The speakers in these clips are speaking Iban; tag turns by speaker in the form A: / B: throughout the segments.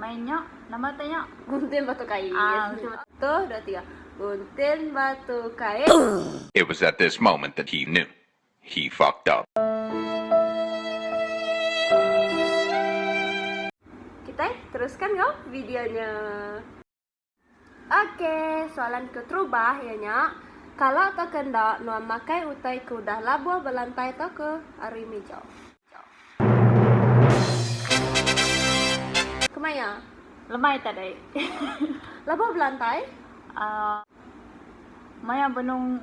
A: Main nya. Nama utai nya? Gunting batu kain. Ah,
B: gunting batu. Satu,
A: dua, tiga.
B: Gunting batu kain. It was at
C: this moment that he knew he fucked up.
B: Kitai teruskan enggau video nya. Ok, soalan keterubah iya nya, kala tauka enda nuan makai utai ke udah labuh ba lantai tauka ari mija? Kemaya? Lemai tak deh.
A: Labuh
B: ba lantai? Aaa.
A: Maya benung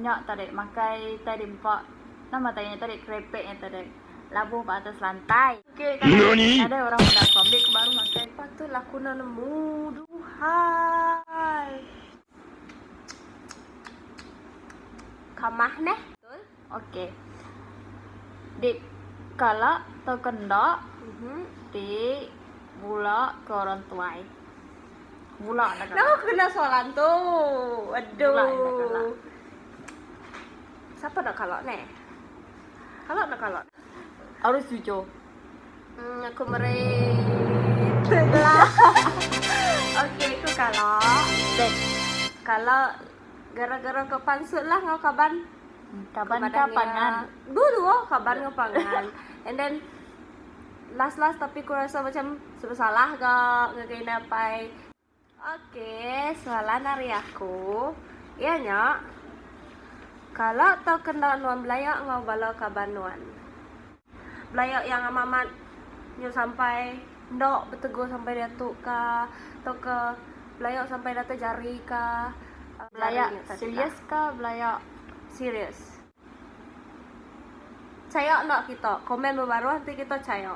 A: nya tak deh makai tai di empa. Nama tai nya tak deh, kerepek nya tak deh. Labuh ba atas lantai. Nadai orang meda aku ambil ke baru makai. Patut lah aku enda nemu.
B: Duhai. Kamah neh. Okey.
A: Di kala tauka enda. Ti bula ke orang tuai. Bula enda kala. Kenapa aku kena soalan tu?
B: Aduh. Bula enda
A: kala.
B: Siapa enda kala neh? Kala enda kala. Harus jujur.
A: Hmm, aku
B: meri sebelah. Okey, aku kala. Dan
A: kala
B: gara-gara ke pansut lah ngau kaban. Hmm, kaban ke
A: pangan. Dulu oh, kaban
B: ke pangan. And then last-last tapi aku rasa macam sebab salah ke ngagai napai. Ok, soalan ari aku iya nya, kala tauka enda nuan belaya enggau bala kaban nuan, belaya yang amat amat nyu sampai enda betegur sampai diatu ka, tauka belaya sampai datai jari ka, belaya
A: serius ka belaya serius.
B: Chaya enda kita. Komen bebaruh enti kita chaya.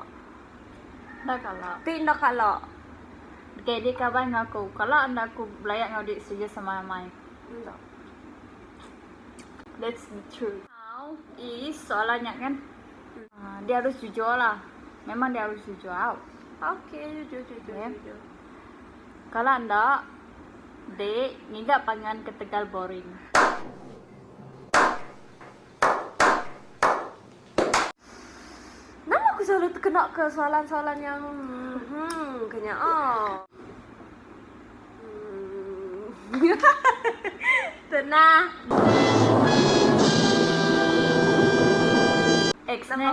B: Enda
A: kala. Ti enda kala.
B: Deka edi
A: kaban enggau aku. Kala enda aku belaya enggau diri setuju sama amai. Enda. That's the truth. How is soalan nya kan. Uh, dia harus jujur lah. Memang dia harus jujur. Out. Okay, jujur,
B: jujur, okay. jujur. Kala
A: enda, dek, ngiga panggilan ketegal boring.
B: Nama aku selalu tekena ke soalan-soalan yang hmm ke nyaa? Tenang.
A: Ex ne?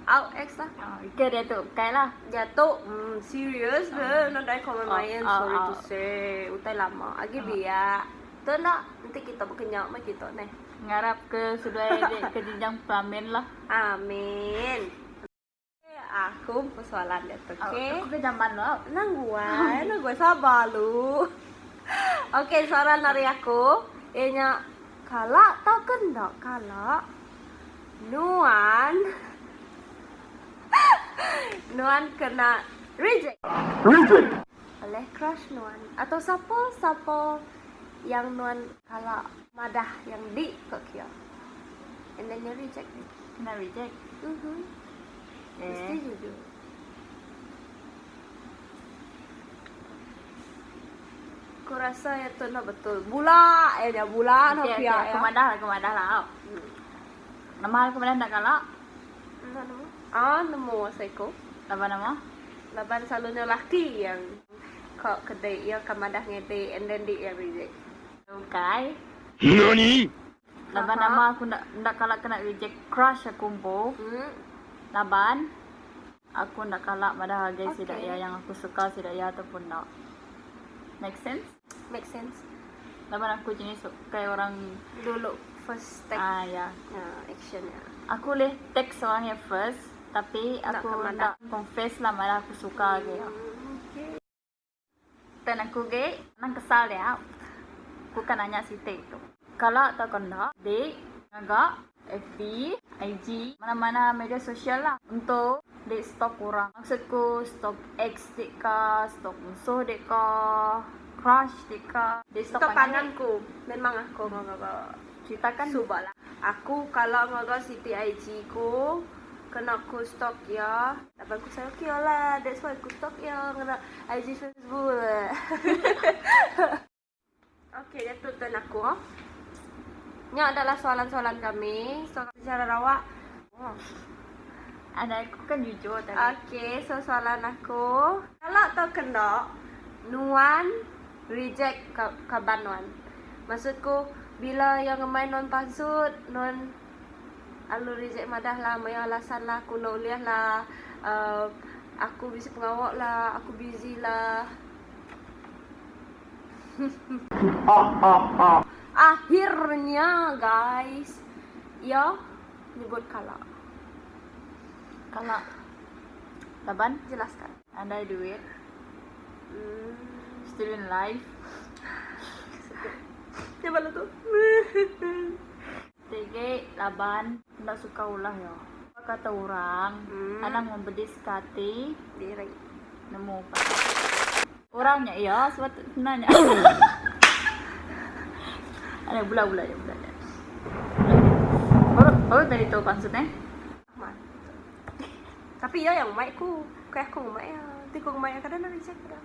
A: Au ex
B: lah. Ke dia tu bukai
A: lah. Dia tu hmm
B: serious ke nadai ke main-main sorry to say. Utai lama agi biak. Tu enda, enti kita bekenya meh kita neh. Ngarap ke
A: seduai dek ke jenjang peramin lah. Amin.
B: Okey aku empu soalan dia tu okey. Aku ke zaman lo au.
A: Nang guai nang
B: guai sabar lu. Okey soalan ari aku iya nya kala tau ke enda kala nuan nuan kena reject. Oleh crush nuan. Atau sapa sapa yang nuan. Kala madah yang di ko kia. And then nya reject nya. Kena reject. Mhm. Mesti
A: jujur.
B: Ku rasa ya tu no betul. Bula ya nya bula no kia ya. Ke madah
A: la ke madah
B: la.
A: Nama ke madah enda kala. Enda nemu. Ah nemu
B: seiko. Laban nama?
A: Laban selalunya
B: laki yang ka kedai iya akan madah ngedi and then di iya reject. Ukai.
A: Nani?
C: Laban
A: nama aku enda enda kala kena reject crush aku empu. Laban. Aku enda kala madah agai sida iya yang aku suka sida iya atau pun enda. Make sense? Make
B: sense. Laban aku
A: jenis ukai orang. Dulu
B: first take. Ah iya. Ah
A: action iya.
B: Aku ulih
A: text orang iya first tapi aku enda confess
B: lah
A: madah aku suka ke iya. Pen aku ge anang kesal nya ku ka nanya siti tu. Kala tau ka enda dik ngaga fb, IG mana mana media sosial lah ento dik stok orang maksud ku stok ex dik ka stok musuh dik ka crush dik ka dik stok pangan dik. Ka pangan ku
B: memang aku ngaga cerita kan suba lah aku kala ngaga siti IG ku kena ku stok iya. Tapi aku sayang ke iya lah. That's why aku stalk iya ngena IG Facebook. okay, dia tu turn aku. Oh. Nya adalah soalan-soalan kami. So, secara rawak. Oh.
A: Ada aku kan jujur tadi. Okay, so soalan
B: aku. Kalau tau kena, Nuan reject kaban Nuan. Maksudku, bila yang main Nuan pansut, Nuan... Alur rejek madah lah maya alasan lah aku enda ulih lah uhh aku bisi pengawa lah aku busy lah hehehe akhir nya guys iya nyebut kala kala
A: laban jelaskan
B: andai duit
A: uhh student life.
B: Nya bala tu hehehe. Sigi
A: laban enda suka ulah iya. Ba kata orang, anang mempedis ka ati diri.
B: Nemu pah.
A: Orang nya iya sepatut kena nya. Alah bula bula aja bula aja. Baru tadi tu pansut eh.
B: Tapi iya yang mai ku. Bukai aku ngemai iya. Ti ku ngemai iya kada nak reject dah.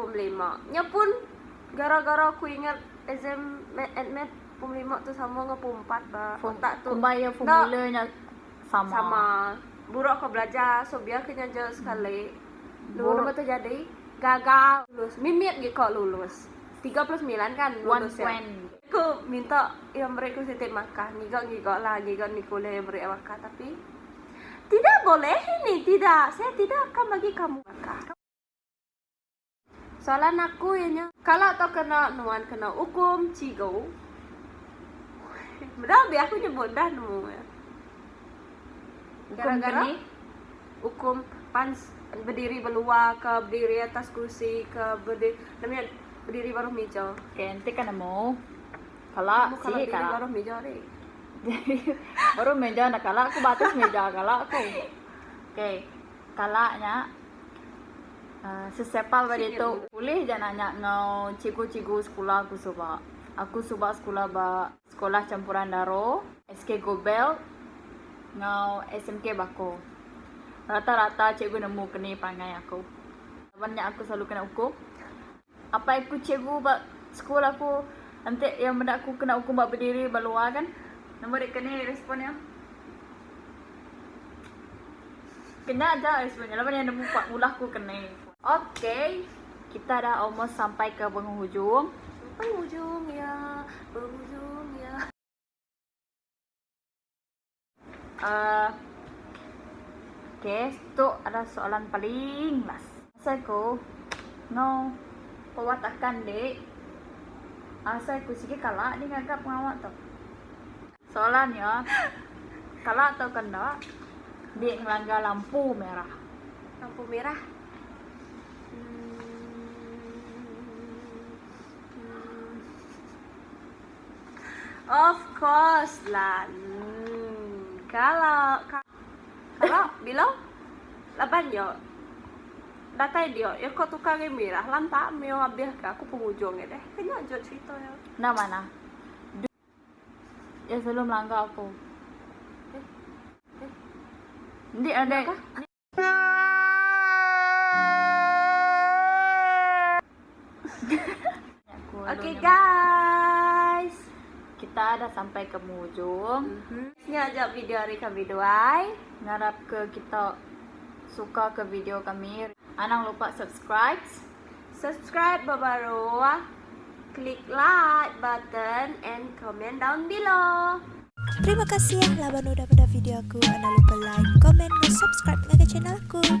B: Pom lima. Nya pun gara-gara aku ingat exam math and math pom lima tu sama enggau pom empat ba otak tu. Kumbai iya formula nya
A: sama. Sama.
B: Buruk aku belajar so biar ke nya aja sekali. Dua nama tu jadi gagal. Lulus. Mimit gi ko lulus. Tiga puluh semilan kan lulus iya. Ku minta iya meri ku siti markah. Ngiga-ngiga lah. Ngiga ni kuliah iya meri markah tapi tidak boleh ini tidak. Saya tidak akan bagi kamu markah. Soalan aku iya nya. Kala tau kena nuan kena ukum cigu. Meda be aku nyebut dah nemu iya. Gara gara ukum pan bediri belua ke bediri atas kursi ke nama nya bediri baruh mija. Okey enti ka nemu
A: kala si kala bediri baruh
B: mija ri.
A: Baruh mija enda kala ku ba atas mija kala ku. Okey kala nya Sesepal ba ditu. Ulih ja nanya enggau cikgu-cikgu sekula aku suba. Aku suba sekula ba Sekolah Campuran Daro, SK Gobelt enggau SMK Bako. Rata-rata cikgu nemu keni pangai aku. Laban nya aku selalu kena ukum. Apai aku cikgu ba school aku enti iya meda aku kena ukum ba bediri ba luar kan. Nama deka ni respon iya. Kena aja respon iya laban iya nemu pak ngulah aku ke ni. Ok kita dah almost sampai ke penghujung. Penghujung
B: iya, penghujung iya.
A: Uh, okay, tu adalah soalan paling last. Asal ku, no, kuat akan dek. Asal ku sikit kalah ni ngagap pengawa tu. Soalan ya, kalah tu kan tak? Dek ngelanggar lampu merah. Lampu merah?
B: Of course la nn kala kala bila laban nya datai dia iya ko tukar agi mirah lanta mio abih ka aku pengujung nya deh ke nya jut cerita iya. Enda manah.
A: Duh. Iya selalu melanggar aku. Ih. Ih. Indi adik.
B: Okay guys. Kita
A: dah sampai ke mujung. Nya aja
B: video ari kami duai. Ngarap ke
A: kita suka ke video kami. Anang lupa subscribes. Subscribe
B: ba baru, klik like button and comment down below. Terima
D: kasih laban udah meda video aku. Enda lupa like, comment, ngan subscribe ngagai channel aku.